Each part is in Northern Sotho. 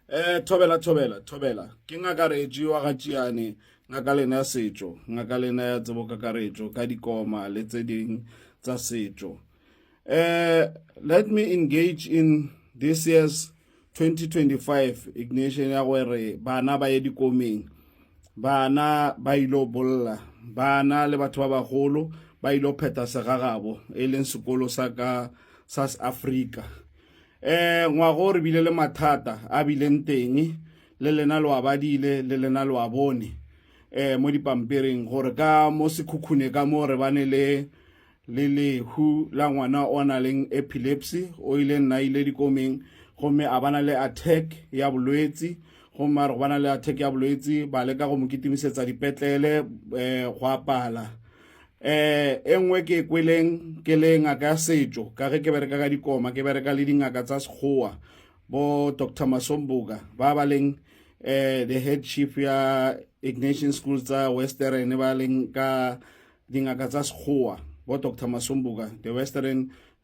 eh thobela thobela thobela ke ngaka retši wa ga tšiane ngaka lena ya setšo ngaka lena ya tsebo kakaretšo ka dikoma le tse ding tsa setšo eh let me engage in this year's 2025 ignition ya gore bana ba ye dikomeng bana ba ile bolla bana le batho ba bagolo ba ile pheta segagabo e leng sekolo sa ka sa Africa um ngwago re bile le mathata a bileng teng le lena lo a badile le lena lo a bone um mo dipampiring gore ka mo sekhukhune ka mo re bane le le lehu la ngwana o na leng epilepsy o ile nna ile dikomeng gomme a bana le attack ya bolwetsi gomme a re go bana le attack ya bolwetsi ba leka go mo kitimisetsa dipetlele um go apala eh e nngwe ke e kweleng ke le ngaka ya setšo ka ge ke bereka ka dikoma ke bereka le dingaka tsa sekgowa bo dr masomboka ba ba leng eh the head chief ya ignatian school tsa western ba leng ka dingaka tsa sekgowa bo dr masomboka the western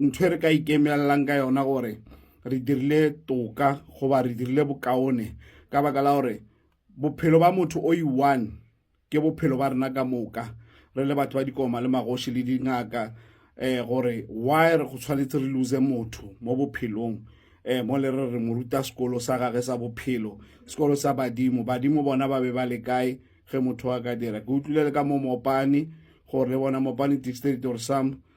ntho e re ka ikemelelang ka yona gore re dirile toka goba re dirile bokaone ka baka la gore bophelo ba motho o i-one ke bophelo ba rena ka moka re le batho ba dikoma le magoši le dingaka um gore why re go tshwanetse re lose motho mo bophelong um mo le re re mo ruta sekolo sa gage sa bophelo sekolo sa badimo badimo bona ba be ba le kae ge motho a ka dira ke utlwile le ka mo mopane gore le bona mopane dictionary or some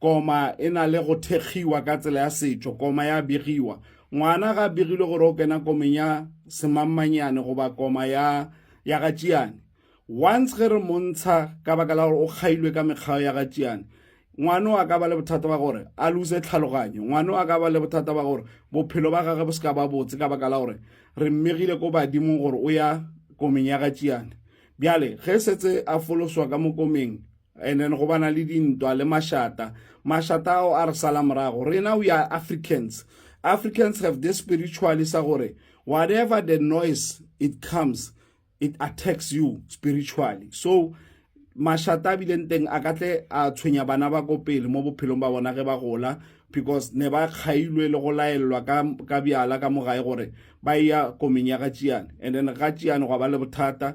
Koma e na le go thekgiwa ka tsela ya setšo, koma ya begiwa. Ngwana ga a begilwe gore o kena komeng ya semammanyane goba koma ya ya ga tšiane. Once ge re montsha ka baka la gore o kgailwe ka mekgao ya ga tšiane, ngwano a ka ba le bothata ba gore a luse tlhaloganyo ngwano a ka ba le bothata ba gore bophelo ba gage bo se ka ba botse ka baka la gore re mmegile ko badimong gore o ya komeng ya ga tšiane bjale ge setse a foloswa ka mokomeng and then go bana le dintwa le mashata mashata ao a re sala morago rena we are africans africans have this spiritually sa gore whatever the noise it comes it attacks you spiritually so mashata a bileng teng a ka tle a tshwenya bana ba ko pele mo bophelong ba bona ge ba gola because ne ba kgailwe le go laelelwa ka bjala ka mogae gore ba ya komeng ya ga tšiane and then ga tšiane gwa ba le bothata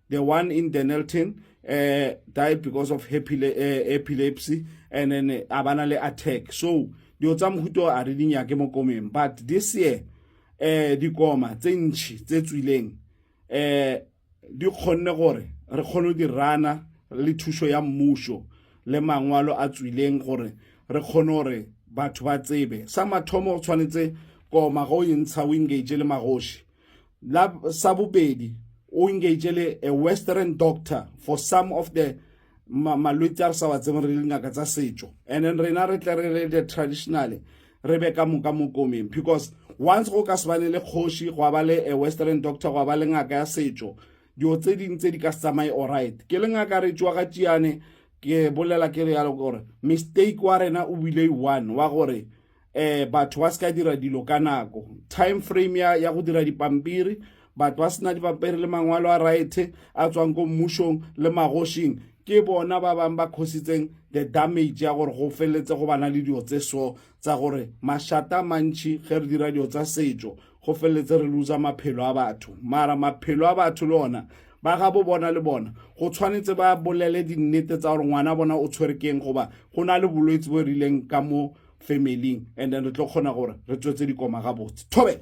the one in Denelton uh, died because of eh, epilepsy and then eh, a bana le attack so dilo tsa mohuto a re dinyake mo komeng but this year um dikoma tse ntšhi tse tswileng um di kgonne gore re kgone di rana le thušo ya mmušo le mangwalo a tswileng gore re kgone gore batho ba tsebe sa mathomo go tshwanetse koma go e ntsha wingage le magoši La sa bobedi o engage le a western doctor for some of the malwetse a re sa wa tsebeng re dingaka tsa setšo and then rena re tle re le the traditionally re be ka moka mo komeng because once go ka se bane le kgoši go ba le a western doctor go ba le ngaka ya setšo dilo tse ding tse di ka se tsamaye alright ke le ngaka re tšwa ga tšeane ke bolela ke re yalo gore mistake wa rena o bile one wa gore eh batho ba se ka dira dilo ka nako time frame ya, ya go dira dipampiri batho ba sena dipampiri le mangwalo a raete a tswang ko mmušong le magošing ke bona ba bangwe ba khositseng the damage ya gore go feletse go bana le dilo tse so tsa gore mašata mantšhi ge re dira dilo tsa setšo go feleletse re luza maphelo a batho mara maphelo a batho le ona ba ga bo bona le bona go tshwanetse ba bolele dinnete tsa gore ngwana bona o tshwere keng goba go na le bolwetse bo e rileng ka mo familing and then re tlo kgona gore re tswetse dikoma gabotse thobela